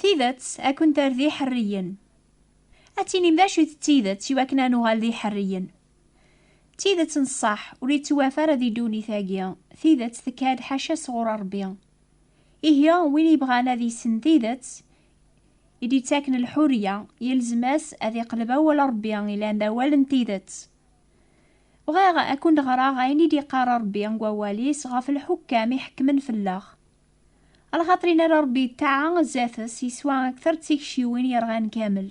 Tidet ad kent-terr d iḥerriyen. Ad tinim d acu-t tidet i wakken ad nuɣal d iḥerriyen. Tidet n ṣṣeḥ ur yettwafa ara di ddunit-agi, tidet tekka-d ḥaca sɣur Ṛebbi. Ihi win yebɣan ad yessen tidet, i d-yettaken lḥuriya, yelzem-as ad iqleb awal Ṛebbi ilan d awal n tidet. Bɣiɣ ad kent-ɣreɣ ayen i d-iqqar Ṛebbi deg wawal-is ɣef lḥukkam iḥekkmen fell-aɣ. A lxaṭer in ara Ṛebbi yettaɛa zdat-s yeswa akter d tikciwin yerɣan kamel.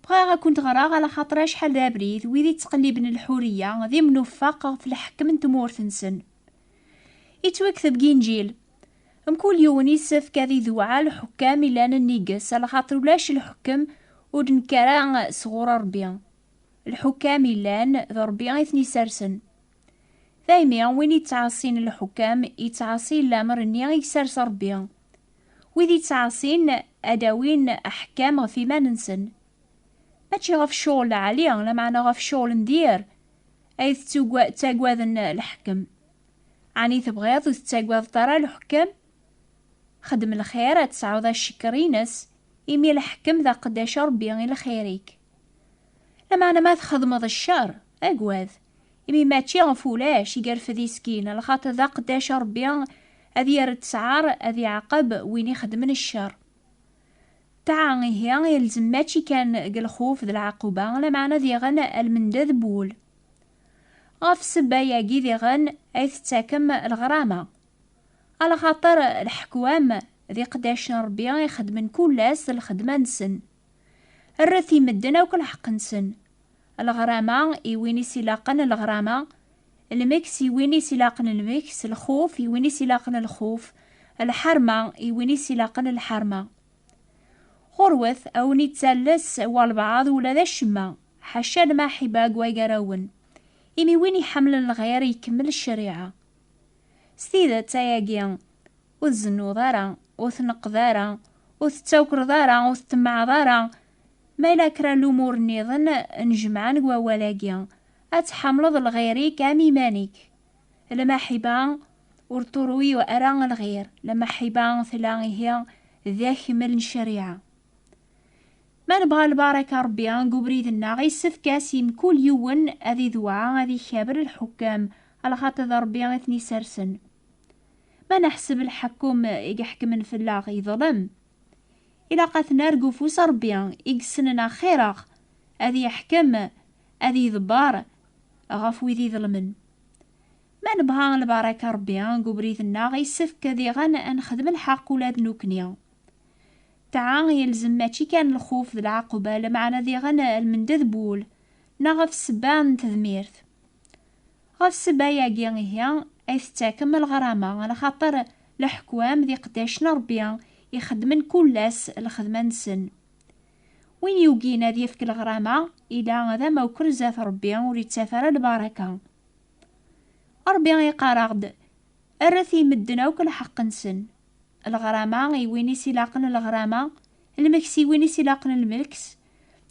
Bɣiɣ ad kent-ɣreɣ a lxaṭer acḥal d abrid wid ittqelliben lḥuriya d imnuffaq ɣef leḥkem n tmurt-nsen. Yettwekteb deg Inǧil. Mkul yiwen yessefk ad iduɛa lḥukkam ilan nnig-s, alaxaṭer ulac lḥukkem ur d-nekk ara sɣur Ṛebbi. Lḥukkam ilan, d Ṛebbi i ten-isersen. Daymi, win ittɛaṣin lḥukkam, ittɛaṣi lamer-nni i isers Ṛebbi. Wid ittɛaṣin, ad awin aḥekkam ɣef iman-nsen. Mačči ɣef ccɣel lɛali, lameɛna ɣef ccɣel n diri ay ttagaden lḥekkem. Ɛni tebɣiḍ ur tettagadeḍ ara leḥkem? Xdem lxir ad tesɛuḍ acekkeṛ-ines, imi leḥkem d aqeddac a Ṛebbi i lxir-ik. Lameɛna ma txedmeḍ cceṛ, agad, imi mačči ɣef ulac i yerfed iskin, lxaṭer d aqeddac a Ṛebbi ad yerr ttɛaṛ ad iɛaqeb win ixedmen cceṛ. Ṭṭaɛa ihi ilzem mačči kan deg lxuf d lɛaquba, lameɛna diɣen a lmendad n wul. Ɣef ssebba-agi diɣen ay tettakem leɣrama. Alxaṭer leḥkwam d iqedac n Ṛebbi i xeddmen kul ass lxedma-nsen. Rret i medden akk lḥeqq-nsen. Leɣrama i win i s-ilaqen leɣrama, lmeks i win i s-ilaqen lmeks, lxuf i win i s-ilaqen lxuf, lḥerma i win i s-ilaqen lḥerma. Ɣurwet, a wen ittales walbaɛḍ ula d acemma, ḥaca lmaḥiba deg wagarawen, imi win iḥemlen lɣir ikemmel ccariɛa. S tidet, ayagi, ur tzennuḍ ara, ur tneqqed ara, ur tettawkreḍ ara, ur ttemmaɛeḍ ara, ma yella kra n lumur nniḍen n jemɛa deg wawal-agi, ad tḥemleḍ lɣir-ik am iman-ik. Lamaḥiba ur ṭṭuruy ara lɣir, lamaḥiba tella ihi d akmel n ccariɛa. Ma nebɣa lbaṛaka n Ṛebbi deg ubrid-nneɣ, yessefk-as i mkul yiwen ad idewɛa ad ikaber lḥukkam, lxaṭi d Ṛebbi i ten-isersen. Ma neḥseb lḥekkum i iḥekmen fell-aɣ yeḍlem, ilaq ad t-nerr deg ufus n Ṛebbi i yessnen axir-aɣ, ad yeḥkem ad yedbar ɣef wid iḍelmen. Ma nebɣa lbaraka Rebbi deg ubrid-nneɣ, yessefk diɣen ad nexdem lḥeqq ula d nekkni. Ṭṭaɛa yelzem mačči kan lxuf d lɛaqba, lameɛna diɣen lmendad n wul, neɣ ɣef ssebba n tedmirt. Ɣef ssebba-agi ihi ay tettakem lɣrama, lxaṭer leḥkwam d iqeddacen n Rebbi ixeddmen kul ass lxedma-nsen. Win yugin ad yefk leɣrama, ila d amawkel zdat Rebbi, ur yettaf ara lbaraka. Rebbi iqqar-aɣ-d, Rret i medden akk lḥeqq-nsen. Leɣrama i win i s-ilaqen leɣrama, lmeks i win i s-ilaqen lmeks,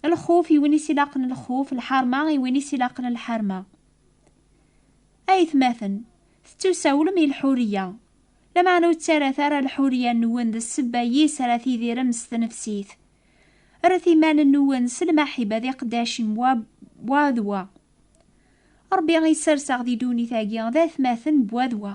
lxuf i win i s-ilaqen lxuf, lḥerma i win i s-ilaqen lḥerma. Aytmaten, tettusawlem i lḥuriya, Lameɛna ur ttarat ara lḥuriya-nwen d ssebba yis ara tidirem s tnefsit. Rret iman-nwen s lmaḥiba d iqeddacim wa wa d wa. Ṛebbi i sserseɣ di ddunit-agi d atmaten n wa d wa.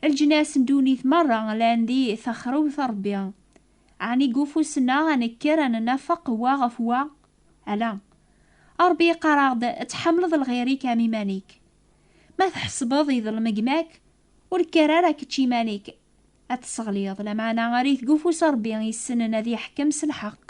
Leǧnas n ddunit meṛṛa llan di texrewt n Ṛebbi. Ɛni deg ufus-nneɣ ad nekker ad nnafeq wa ɣef wa? Ala. Ṛebbi yeqqar-aɣ-d, Tḥemmleḍ lɣir-ik am iman-ik. Ma tḥesbeḍ iḍelm gma-k, Ur kker ara kečč iman-ik ad tesseɣliḍ, lameɛna err-it deg ufus n Rebbi yessnen ad yeḥkem s lḥeqq.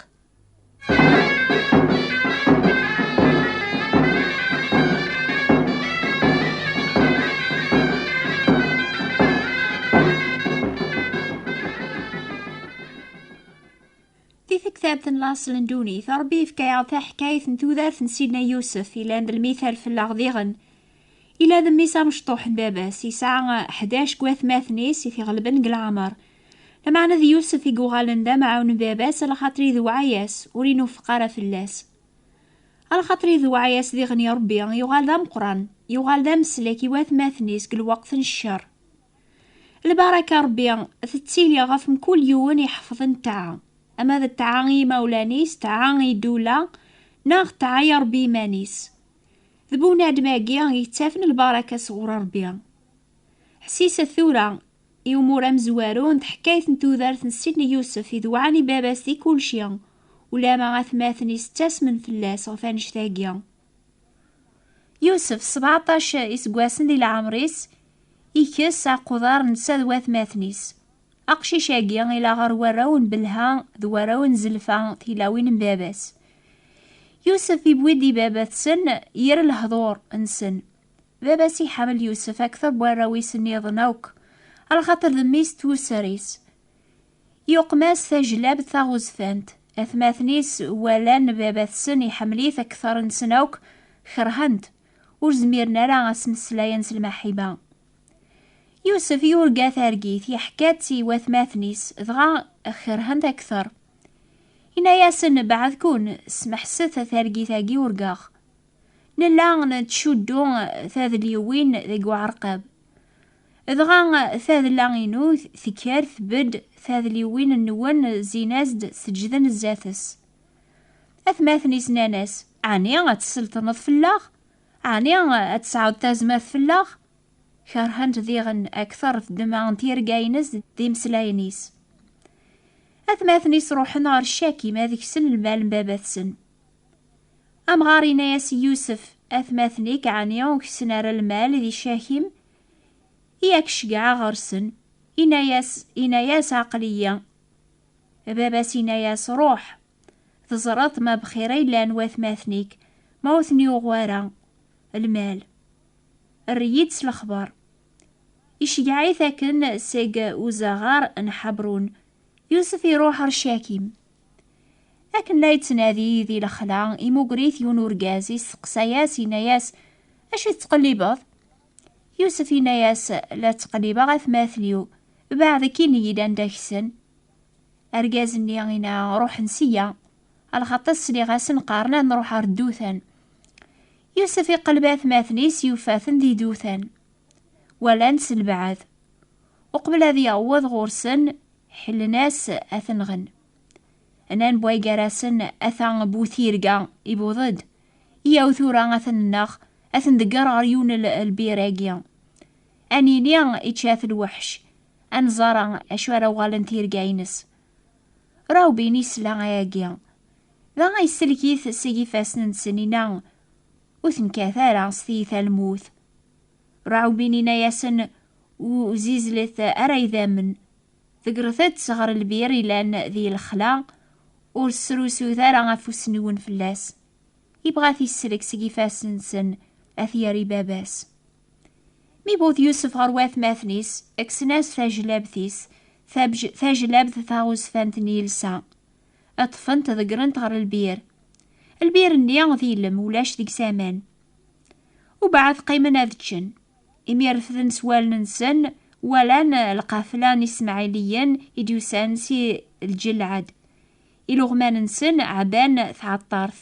Di tektabt n laṣel n ddunit, Rebbi yefka-aɣ-d taḥkayt n tudert n Sidna Yusef, yellan d lmithal fell-aɣ diɣen. Ila d mmi-s amecṭuḥ n baba-s, yesɛa ḥdac n watmaten-is i t-iɣelben deg leɛmer. Lameɛna d Yusef i yuɣalen d amɛawen n baba-s, alaxaṭer idewɛa-yas, ur inuffeq ara fell-as. Alaxaṭer idewɛa-yas diɣen i Ṛebbi, yuɣal d ameqqran, yuɣal d ameslek i watmaten-is deg lweqt n ccer. Lbaraka n Ṛebbi tettili ɣef mkul yiwen iḥefḍen ṭṭaɛa, ama d ṭṭaɛa i yimawlan-is, ṭṭaɛa i ddula, neɣ ṭṭaɛa i Ṛebbi iman-is. D bu unadem-agi i yettafen lbaraka sɣur Rebbi. Ḥsiset tura i umur amezwaru n teḥkayt n tudert n Sidney Yousef i d-wɛan i baba-s di kulci, ulamma atmaten-is ttasmen fell-as ɣef annect-agi. Yousef, sebɛeṭṭac iseggasen di leɛmer-is, ikess aqudar netta d watmaten-is. Aqcic-agi ila ɣer warraw n Belha d warraw n Zelfa tilawin n baba-s. Yusef iwwi-d i baba-tsen yir lehdur nsen. Baba-s iḥemmel Yusef akter n warraw-is nniḍen akk, alxater d mmi-s d tusser-is. Yuqem-as tajlabt taɣezfant. Atmaten-is walan baba-tsen iḥemmel-it akter nsen akk, kerhen-t. Ur zmiren ara a s-meslayen s lmaḥiba. Yusef yurga targit, yeḥka-tt i watmaten-is, dɣa kerhen-t akteṛ. Yenna-yasen, Beɛɛed-kun, smeḥset targit-agi urgaɣ. Nella nettcuddu tadelyuwin deg uɛerqab. Dɣa tadla-inu tekker tbedd, tadelyuwin-nwen zzin-as-d, seǧǧden zdat-s. Atmaten-is nnan-as, Ɛni ad tesselṭneḍ fell-aɣ? Ɛni ad tesɛuḍ tazmert fell-aɣ? Kerhen-t diɣen akteṛ ddemɛa n tirga-ines d imeslayen-is. Atmaten-is ruḥen ɣer Cakim ad ksen lmal n baba-tsen. Amɣar yenna-yas i Yusef, Atmaten-ik ɛni ur ksen ara lmal di Cakim? I ak-ceggɛeɣ ɣer-sen. Yenna-yas, yenna-yas, Aql-iyi. Baba-s yenna-yas, Ruḥ, Teẓreḍ ma bxir ay llan watmaten-ik, ma ur ten-yuɣ wara lmal. Err-iyi-d s lexber. Iceggeɛ-it akken seg uzaɣar n Ḥabrun, Yusef iruḥ ɣer Cakim. Akken la yettnadi di lexla, imuger-it yiwen urgaz, yesteqsa-yas, yenna-yas, Acu i tettqellibeḍ? Yusef yenna-yas, La ttqellibeɣ atmaten-iw, beɛd akkin-iyi-d anda ksen. Argaz-nni inna, Ruḥen sya, alxaṭas sliɣ-asen qqaren ad nruḥ ɣer ddutan. Yusef iqelleb atmaten-is yufa-ten di dutan. Walan s lbeɛd. Uqbel ad yaweḍ ɣur-sen, ḥellen-as ad t-nɣen. Nnan bway gar-asen, ata bu tirga, ibuḍ-d. Iyaw tura ad ten-nneɣ, ad ten-degger ɣer yiwen lbir-agi. Ad nini ičča-t lweḥc. Ad nẓer acu ara uɣalen tirga-ines. Rawbin isla ayagi. Dɣa yesselk-it seg ifassen n Senina. Ur tenkat ara s tiyita lmut. Rawbin ina-yasen ur zizlet ara idammen. Tegret-tt ɣer lbir ilan di lexla, ur srusut ara afus-nwen fell-as. Yebɣa ad t-isselk seg ifassen-nsen, ad t-yerr i baba-s. Mi wwet Yusef ɣer watmaten-is, kksen-as tajlabt-is, tajlabt taɣezfant n yilsa. Ṭṭfent ḍegrent ɣer lbir. Lbir-nni d ilem, ulac deg-s aman. Ubeɛd qqimen ad ččen. Imi refden s wallen-nsen, walan lqafla n Ismaɛiliyen i d-yusan si lǧelɛad. Iluɣman-nsen ɛban tɛeṭṭart,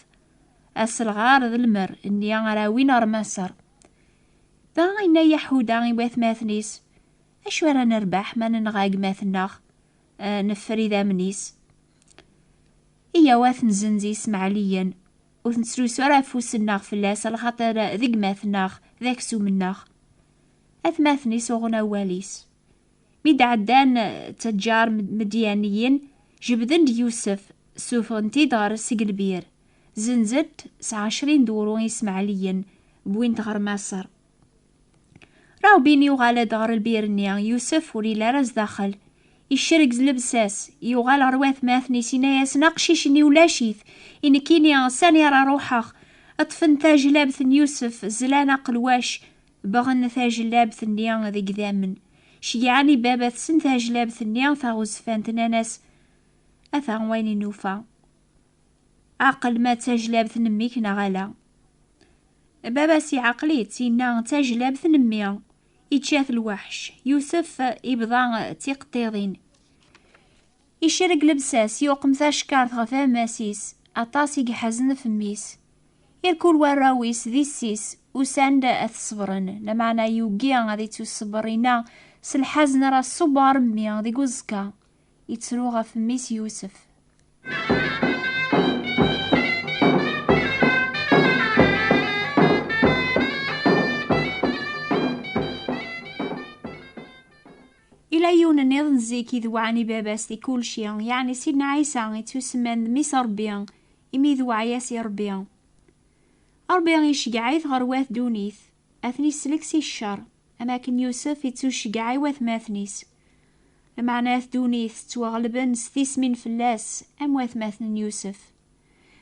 aselɣar d lmer nni ara awin ɣer Maṣer. Dɣa yenna Yaḥuda i watmaten-is, Acu ara nerbeḥ ma nenɣa gma-tneɣ, eh, neffer idammen-is? Iyaw ad ten-zenz yismaɛliyen, ur ten-ttlusu ara afus-nneɣ fell-as, lxaṭer d gma-tneɣ, d aksum-nneɣ. Atmaten-is uɣen awal-is. Mi d-ɛeddan ttaǧǧar Midyaniyen, jebden-d Yusef, ssufɣen-t-id ɣer Seglbir, zenzen-t s ɛecrin d wru Ismaɛliyen, wwin-t ɣer Maṣer. Rawbin yuɣal-d ɣer lbir-nni, Yusef ur yelli ara zdaxel. Icerreg s lebsa-s, yuɣal ɣer watmaten-is, yenna-yasen, Aqcic-nni ulac-it, i nekkini sani ara ruḥeɣ? Ṭṭfen tajlabt n Yusef, zlan aqelwac, Bɣan tajlabt-nni d igdamen. Ceyyɛen i baba-tsen tajlabt-nni taɣezfant, nnan-as, Ata wayen i nufa. Aql ma d tajlabt n mmi-k neɣ ala. Baba-s iɛqel-itt, inna, D tajlabt n mmi. Ičča-t lweḥc. Yusef ibḍa tiqeṭṭiḍin. Icerreg lebsa-s, yuqem tacekkart ɣef ammas-is, aṭas i iḥazen fem-is. Irkul warraw-is d issi-s, usan-d ad t-ṣebren, lameɛna yugi ad ittuṣebber inna s lḥazen ara ṣubber mmi deg uẓekka. Ittru ɣef mmi-s Yusef. Ila yiwen nniḍen zik idewɛen i baba-s di kulci, yeɛni Sidna Ɛisa ittusemman d Mmi-s Ṛebbi, imi idewɛa-yas i Ṛebbi. Ṛebbi iceggeɛ-it ɣer wat ddunit, ad ten-isellek si ccer, am akken Yusef ittuceggeɛ i watmaten-is. Lmeɛna at ddunit ttwaɣelben s tismin fell-as, am watmaten n Yusef.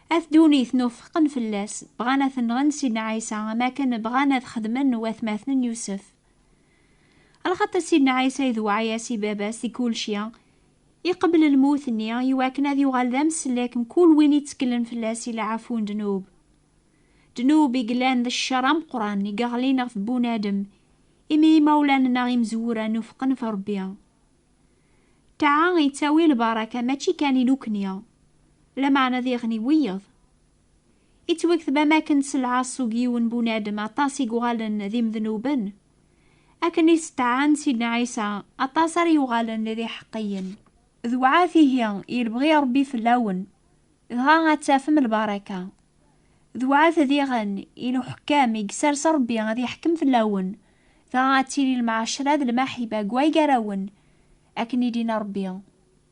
At ddunit nufeqen fell-as, bɣan ad ten-nɣen Sidna Ɛisa am akken bɣan ad xedmen watmaten n Yusef. Lxaṭi Sidna Ɛisa idewɛa-yas i baba-s deg kulci. Iqebbel lmut-nni i wakken ad yuɣal d amsellek n kul win itteklen fell-as i leɛfu n ddnub. Ddnub i yellan d ccer ameqqran i yeɣlin ɣef bunadem imi imawlan neɣ imezwura nufqen ɣef Rebbi. Ṭṭaɛa ittawi lbaraka mačči kan i nukni, lameɛna diɣen i wiyeḍ. Ittwektab am akken s lɛaṣug yiwen bunadem aṭas i yuɣalen d imednuben, akken i steɛɛan Sidna Ɛisa aṭas ara yuɣalen d iḥeqqiyen. D wɛat ihi i lebɣi Ṛebbi fell-awen, dɣa ad tafem lbaraka. D wɛat diɣen i lḥukkam i yessers Ṛebbi ad iḥkem fell-awen, dɣa ad tili lmɛacra d lmaḥiba deg way gar-awen, akken i d-inna Ṛebbi.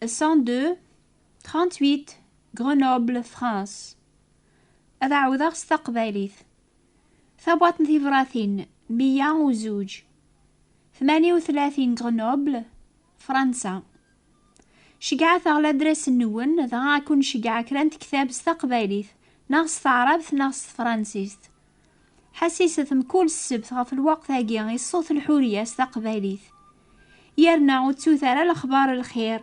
102 38 Grenoble France ad ɛawdeɣ s taqbaylit tabwaṭ n tibratin 102 38 Grenoble Fransa Ceggɛet-aɣ ladres-nwen dɣa ad kun-ceggɛeɣ kra n tektab s taqbaylit neɣ s taɛrabt neɣ s tefransist. Ḥassiset mkul ssebt ɣef lweqt-agi i ṣṣut lḥuriya s taqbaylit. Yerna ur ttut ara lexbar n lxir,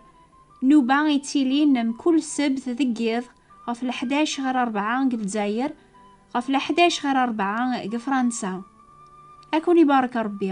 nnuba yettilin mkul ssebt deg yiḍ ɣef leḥdac ɣer rebɛa deg Lezzayer, ɣef leḥdac ɣer rebɛa deg Fransa. Ad ken-ibarek Rebbi.